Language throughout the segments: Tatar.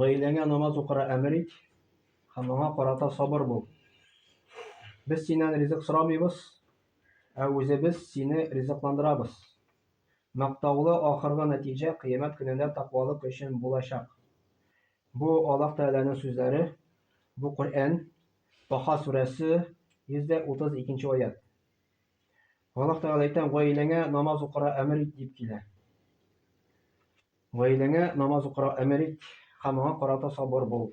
Гаиләңә намаз укырга әмер ит һәм аңа карата сабыр бул. Без синнән ризык сорамыйбыз, ә үзебез сине ризыкландырабыз. Мактаулы ахыргы нәтиҗә Кыямәт көнендә такъвалык өчен булачак. Бу, Аллаһ Тәгаләнең сүзләре, бу Коръән, Таһа сүрәсе, 132 нче аять. Аллаһ Тәгалә әйтә, Гаиләңә намаз укырга әмер ит, дип килә. Гаиләңә намаз укырга әмер ит һәм аңа карата сабыр бул.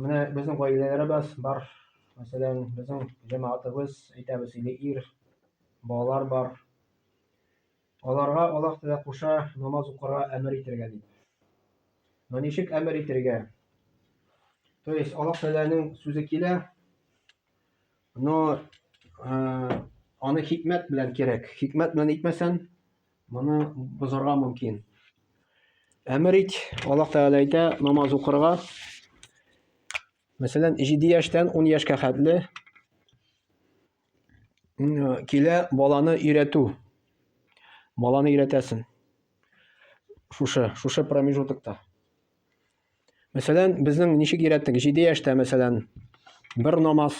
Менә безнең гаиләләребез бар. Мәсәлән, безнең җәмәгатебез, әйтәбез, 50 ир, балалар бар. Аларга Аллаһ Тәгалә куша намаз укырга әмер итәргә дип. Но ничек әмер итәргә? То есть Аллаһ Тәгаләнең сүзе килә, но аны хикмәт белән кирәк. Хикмәт белән итмәсәң, Моны бозарга мөмкин. Әмер ит, Аллаһ Тәгалә әйтә, намаз укырга. Мәсәлән, 7 яшьтән 10 яшькә хәтле килә баланы өйрәтү. Баланы өйрәтәсен. Шушы, шушы промежутокта. Мәсәлән, безнең ничек өйрәттек? 7 яшьтә, мәсәлән, бер намаз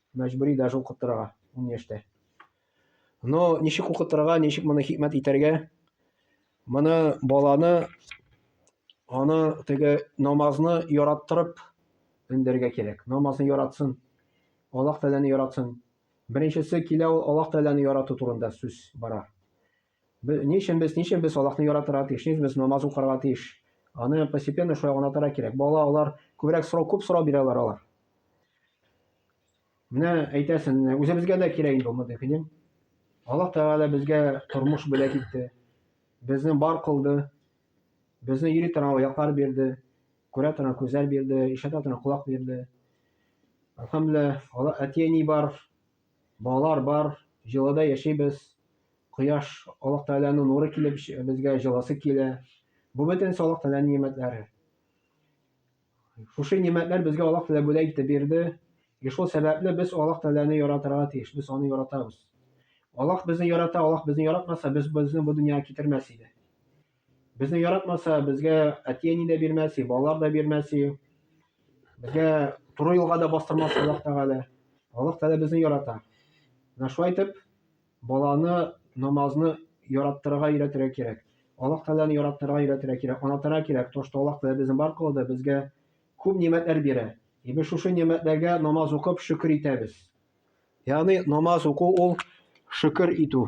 Мәҗбүри даже укыттырырга, ун яшьтә. Но ничек укыттырырга, ничек моны хикмәт итәргә? Моны баланы аны теге намазны яраттырып өндәргә кирәк. Намазны яратсын. Аллаһ Тәгаләне яратсын. Беренчесе килә ул Аллаһ Тәгаләне ярату турында сүз бара. Бе, ни өчен без, ни өчен без Аллаһны яратырга тиеш, ни өчен без намаз укырга тиеш? Аны постепенно шулай аңлатырга кирәк. Бала алар күбрәк сорау, күп сорау бирә алар алар. Менә әйтәсен, үзебезгә дә кирәк инде ул мондый фильм. Аллаһ Тәгалә безгә тормыш бүләк итте. Безне бар кылды. Безне йөри торган аяклар бирде, күрә торган күзләр бирде, ишетә торган колак бирде. Әлхәмдүлилләһ, Аллаһ әти-әни бар, Балалар бар, җылыда яшибез. Кояш, Аллаһ Тәгаләнең нуры килеп, безгә җылысы килә. Бу бөтенесе Аллаһ Тәгаләнең нигъмәтләре. Шушы нигъмәтләр безгә Аллаһ Тәгалә бүләк итеп бирде. И шул сәбәпле без Аллаһ Тәгаләне яратырга тиеш, без аны яратабыз. Аллаһ безне ярата, Аллаһ безне яратмаса, без безне бу дөньяга китермәс иде. Безне яратмаса, безгә әти-әни дә бирмәси, балалар да бирмәси. Безгә туры юлга да бастырмас Аллаһ Тәгалә. Аллаһ Тәгалә безне ярата. Менә шулай итеп, баланы намазны яраттырырга өйрәтергә кирәк. Аллаһ Тәгаләне яраттырырга өйрәтергә кирәк, онатырга кирәк. То, что Аллаһ Тәгалә безнең бар кылды, безгә күп нимәтләр бирә. И без шушы нимәтләргә намаз укып шөкер итәбез. Ягъни намаз уку ул шөкер итү.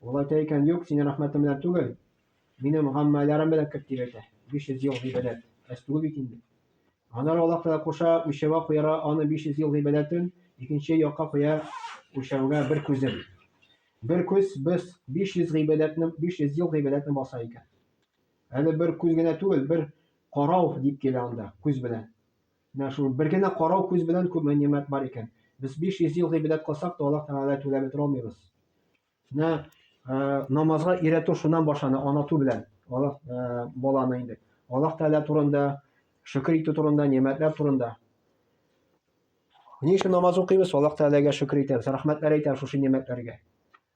Ул әйтә икән, Юк, сине рәхмәтем белән түгел, минем гаммәләрем белән керт, дип әйтә. Биш йөз ел гыйбадәт әз түгел бит инде. Аннары Аллаһ Тәгалә куша, үлчәүгә куярга аны биш йөз ел гыйбадәтен, икенче якка куя үлчәүгә бер күзен. Бер күз без биш йөз гыйбадәтне, биш йөз ел гыйбадәтне баса икән. Әле бер күз генә түгел, бер карау дип килә анда, күз белән. Менә шул бер генә карау күз белән күпме нигъмәт бар икән. Без 500 ел гыйбадәт кылсак та, Аллаһ Тәгалә түләвен тора алмыйбыз. Менә намазга өйрәтү шуннан башлана, анату белән. Аллаһ баланы инде. Аллаһ Тәгалә турында, шөкер итү турында, нигъмәтләр турында. Ни өчен намаз укыйбыз? Аллаһ Тәгаләгә шөкер итәбез, рәхмәтләр әйтәбез шушы нигъмәтләргә.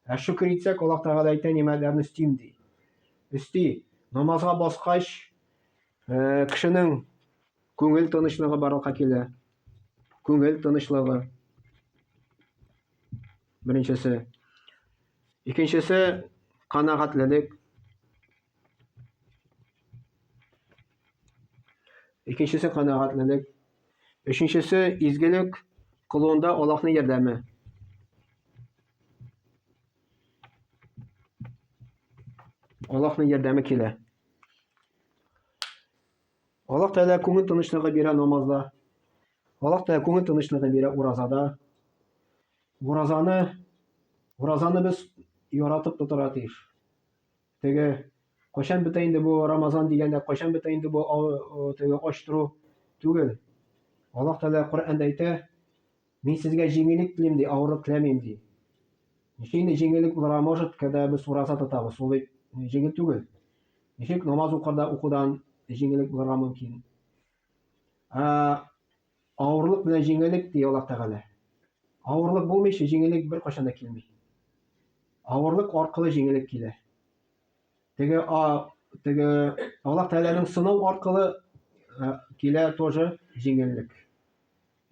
Ә шөкер итсәк, Аллаһ Тәгалә әйтә, нигъмәтләрне өстим ди. Өсти. Намазга баскач, э, кешенең күңел тынычлыгы барлыкка килә. Күңел тынычлыгы. Беренчесе. Икенчесе канәгатьлелек. Икенчесе канәгатьлелек. Өченчесе изгелек кылуында Аллаһның ярдәме. Аллаһның ярдәме килә. Аллаһ Тәгалә күңел тынычлыгы бирә намазда. Аллаһ Тәгалә күңел тынычлыгы бирә уразада. Уразаны уразаны без яратып тотара тиеш. Теге кайчан бетә инде бу Рамазан дигәндә, кайчан бетә инде бу теге ач тору түгел. Аллаһ Тәгалә Коръәндә әйтә, Мин сезгә җиңеллек телим ди, авырлык теләмим ди. Ничек инде җиңеллек булырга может, когда без ураза тотабыз, ул бит җиңел түгел. Ничек намаз укырда укудан җиңеллек булырга мөмкин? ә, авырлык белән җиңеллек, ди Аллаһ Тәгалә. Авырлык булмыйча җиңеллек беркайчан да килми. Авырлык аркылы җиңеллек килә. Теге а, теге Аллаһ Тәгаләнең сынау аркылы ә, килә тоже җиңеллек.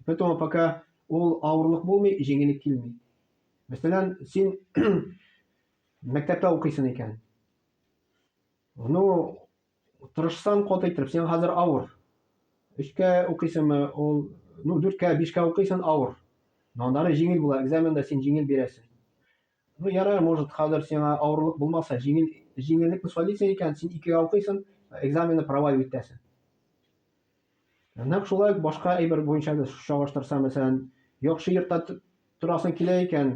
Поэтому пока ул авырлык булмый, җиңеллек килми. Мәсәлән, син мәктәптә укыйсың икән. Ну, Тырышсаң, каты итеп, сиңа хәзер авыр. Өчкә укыйсыңмы, ул, ну, дүрткә, бишкә укыйсың, авыр. Но аннары җиңел була, экзамендә син җиңел бирәсең. Ну, ярар, может, хәзер сиңа авырлык булмаса, җиңел, җиңеллекне сайлыйсың икән, син икегә укыйсың, экзаменны проваливать итәсең. Нәкъ шулай ук башка әйбер буенча да чагыштырса, мәсәлән, яхшы йортта торасың килә икән,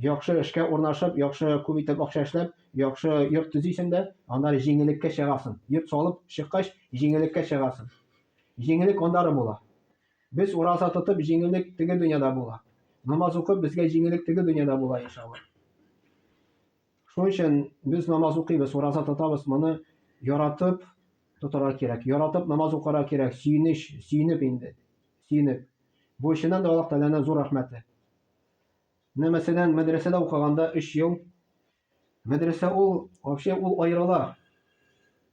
яхшы эшкә урнашып, яхшы күп итеп акча эшләп, яхшы йорт төзисең дә, аннары җиңеллеккә чыгасың. Йорт салып чыккач, җиңеллеккә чыгасың. Җиңеллек аннары була. Без ураза тотып, җиңеллек теге дөньяда була. Намаз укып, безгә җиңеллек теге дөньяда була, иншалла. Шуның өчен без намаз укыйбыз, ураза тотабыз, моны яратып тотарга кирәк. Яратып намаз укырга кирәк, сөенеч, сөенеп инде, сөенеп. Бу эшеннән дә Аллаһ Тәгаләнең зур рәхмәте. Менә мәсәлән, мәдрәсәдә укыганда 3 ел мәдрәсә ул вообще ул аерыла.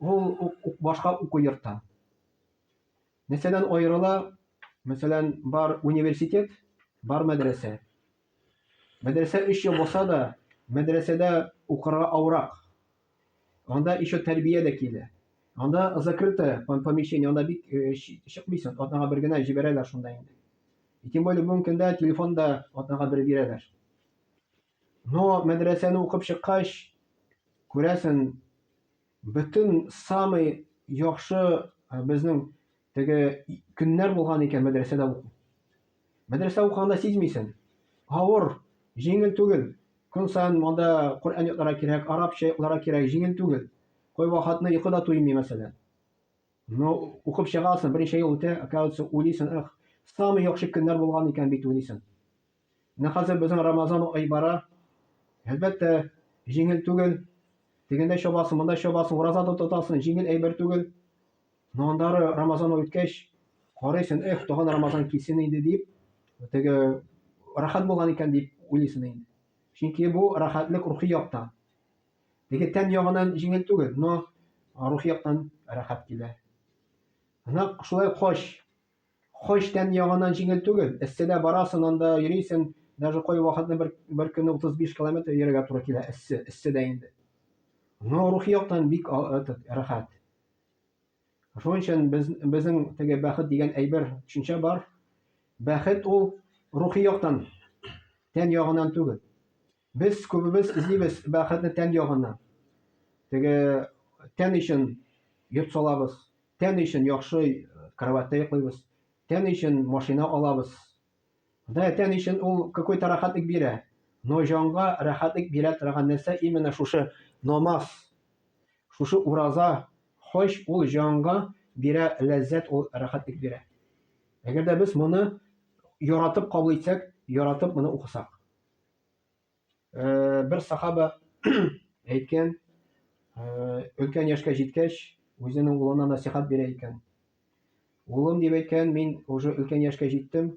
Ул башка уку йорттан. Нәрсәдән аерыла? Мәсәлән, бар университет, бар мәдрәсә. Мәдрәсә өч ел булса да, мәдрәсәдә укырга авырак. Анда еще тәрбия дә килә. Анда закрытое помещение, анда бик э, чыкмыйсың, атнага бер генә җибәрәләр шунда инде. И тем более бүгенге көндә телефон да атнага бер бирәләр. Но мәдрәсәне укып чыккач, күрәсең, Бөтен самый яхшы безнең теге көннәр булган икән мәдрәсәдә уку. Мәдрәсә укыганда сизмисен. Авыр, җиңел түгел. Көн саен монда Коръән ятлара кирәк, арабча ятлара кирәк, җиңел түгел. Кой вахатны йокы да туймый, мәсәлән. Ну, укып чыгасың, берничә ел үтә, оказывается, уйлыйсың, эх, самый яхшы көннәр булган икән бит, уйлыйсың. Менә хәзер безнең Рамазан ае бара. Әлбәттә, җиңел түгел. Дигәндә чабасың, монда чабасың, ураза да тотасың, җиңел әйбер түгел. Но аннары Рамазан үткәч, карыйсың, эх, тагын Рамазан килсен инде дип, теге рахат булган икән дип уйлыйсың инде. Чөнки бу рахатлык рухи яктан. Теге тән ягынан җиңел түгел, но рухи яктан рахат килә. Ана шулай кош Хош, тән ягыннан җиңел түгел. Эссе дә, барасың анда, йөрисең, даже кайвакытны бер, бер көнне 35 километр йөрергә туры килә, эссе, эссе дә инде. Но рухи яктан бик а, этот, рәхәт. Шуның өчен без, безнең теге бәхет дигән әйбер, төшенчә бар. Бәхет ул рухи яктан, тән ягыннан түгел. Без күбебез эзлибез бәхетне тән ягыннан. Теге тән өчен йорт салабыз, тән өчен яхшы кроватьта йоклыйбыз, тән өчен машина алабыз. Да, тән өчен ул какой-то рәхәтлек бирә. Но җанга рәхәтлек бирә торган нәрсә именно шушы намаз, шушы ураза, хаҗ ул җанга бирә ләззәт, ул рәхәтлек бирә. Әгәр дә без моны яратып кабул итсәк, яратып моны укысак. Э, бер сахаба әйткән, э, өлкән яшькә җиткәч, үзенең улына насихат бирә икән. Улым дип әйткән, мин уже өлкән яшькә җиттем.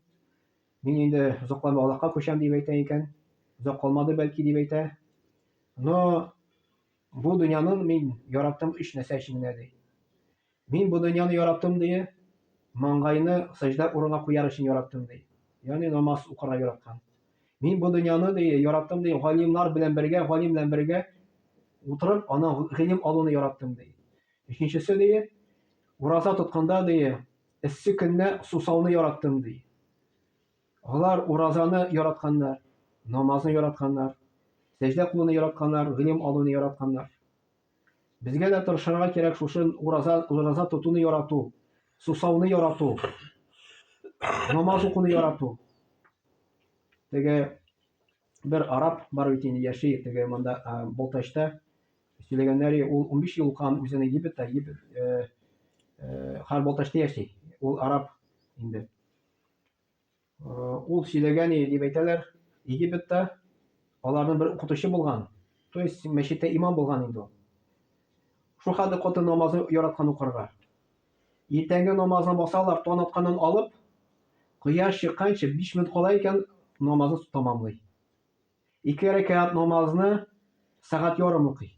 Мин инде озаклама Аллаһка күчәм дип әйтә икән. Озак калмады бәлки дип әйтә. Но бу дөньяны мин яраттым өч нәрсә өчен генә ди. Мин бу дөньяны яраттым, ди, маңгайны сәҗдә урынына куяр өчен яраттым, ди. Ягъни намаз укырга яраткан. Мин бу дөньяны, ди, яраттым, ди, галимнар белән бергә, галим белән бергә утырып, аны гыйлем алуны яраттым, ди. Өченчесе, ди, ураза тотканда, ди, эссе көнне сусауны яраттым, ди. Алар уразаны яратканнар, намазны яратканнар, сәҗдә кылуны яратканнар, гыйлем алуны яратканнар. Безгә дә тырышырга кирәк шушын ураза, ураза тотуны ярату, сусауны ярату, намаз укуны ярату. Теге бер араб бар бит инде яши, теге монда Болтачта сөйләгәннәре, ул 15 ел укыган үзен Египетта, Египет, э, э, Болтачта яши. Ул араб инде. Ул сөйләгән иде дип әйтәләр. Египетта аларның бер укытучы булган. То есть мәчеттә имам булган инде ул. Шул хәтле каты намазы яраткан укырга. Иртәнге намазны басалар, тон атканнан алып, кояш чыкканча 5 минут кала икән намазны тәмамлый. Ике рәкәгать намазны сәгать ярым укый.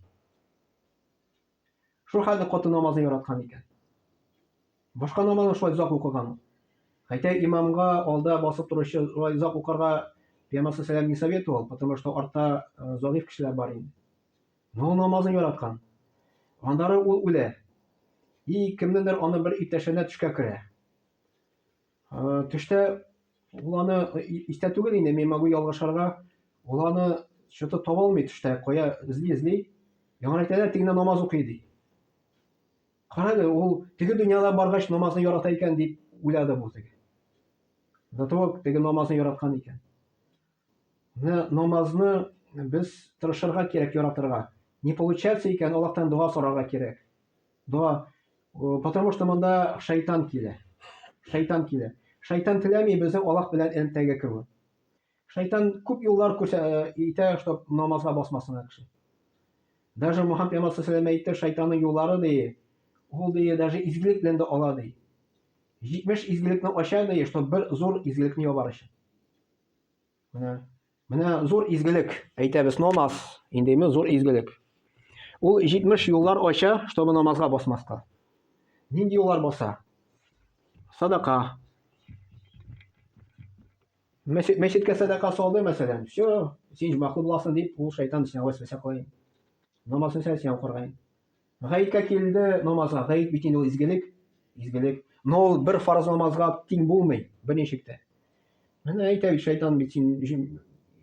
Шул хәлле каты намазны яраткан икән. Башка намазны шулай озак укыган. Хотя имамга алда басып торучы шулай озак укырга Пәйгамбер саллаллаху не советовал, потому что артта э, загыйф кешеләр бар инде. Но намазны яраткан. Аннары ул үлә. И кемнедер аны бер иптәшенә төшкә керә. Төштә ул аны истә түгел инде, мин могу ялгышарга. Ул аны что-то таба алмый төштә, кая эзли, эзли. Яңа әйтәләр, тегенә намаз укый ди. Карады, ул теге дөньяда баргач намазны ярата икән дип уйлады бу теге. До того, теге намазны яраткан икән. Менә намазны без тырышырга кирәк яратырга. Не получается икән, Аллаһтан дога сорарга кирәк. Дога, потому что монда шайтан килә. Шайтан килә. Шайтан теләми безнең Аллаһ белән элемтәгә керү. Шайтан күп юллар күрсә итә, чтобы намазга басмасыннар кеше. Даже Мухаммед Пәйгамбәр саллаллаху әйтте, шайтанның юллары ди, ул ди даже изгелек белән дә ала ди. 70 изгелекне ача ди, чтобы бер зур изгелекне ябар өчен. Менә, менә зур изгелек, әйтәбез, намаз, индеме зур изгелек. Ул 70 юллар ача, чтобы намазга басмаска. Нинди юллар баса? Садака. Мәсет, мәсеткә садака салды, мәсәлән, все, син җмахлы буласың дип, ул шайтан сиңа вәсвәсә кылай. Намазны сәл сиңа укыргай. Гаеткә килде намазга, гаек бит инде ул изгелек, изгелек. Но ул бер фарыз намазга тиң булмый, бер ничек тә. Менә әйтә бит шайтан бит син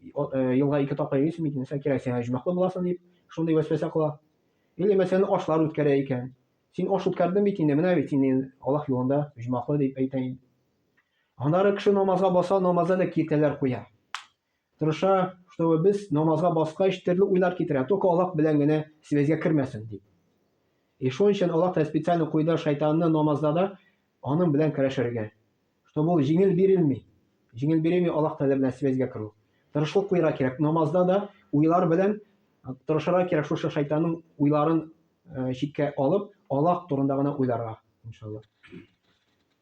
елга ике тапкыр йөрисең бит, нәрсә кирәк сиңа җмәхлы буласың дип, шундый вәсвәсә кыла. Или мәсәлән ашлар үткәрә икән. Син аш үткәрдең бит инде, менә бит син Аллаһ юлында җмәхлы дип әйтә инде. Аннары кеше намазга баса, намазда да киртәләр куя. Тырыша, чтобы без намазга баскач төрле уйлар китерә, только Аллаһ белән генә связьгә кермәсен дип. И шуның өчен Аллаһ та специально куйды шайтанны намазда да аның белән көрәшергә. Чтобы ул җиңел бирелми. Җиңел бирелми Аллаһ Тәгалә белән связьгә керү. Тырышлык куйырга кирәк. Намазда да уйлар белән тырышырга кирәк шушы шайтанның уйларын читкә алып, Аллаһ турында гына уйларга, иншаллаһ.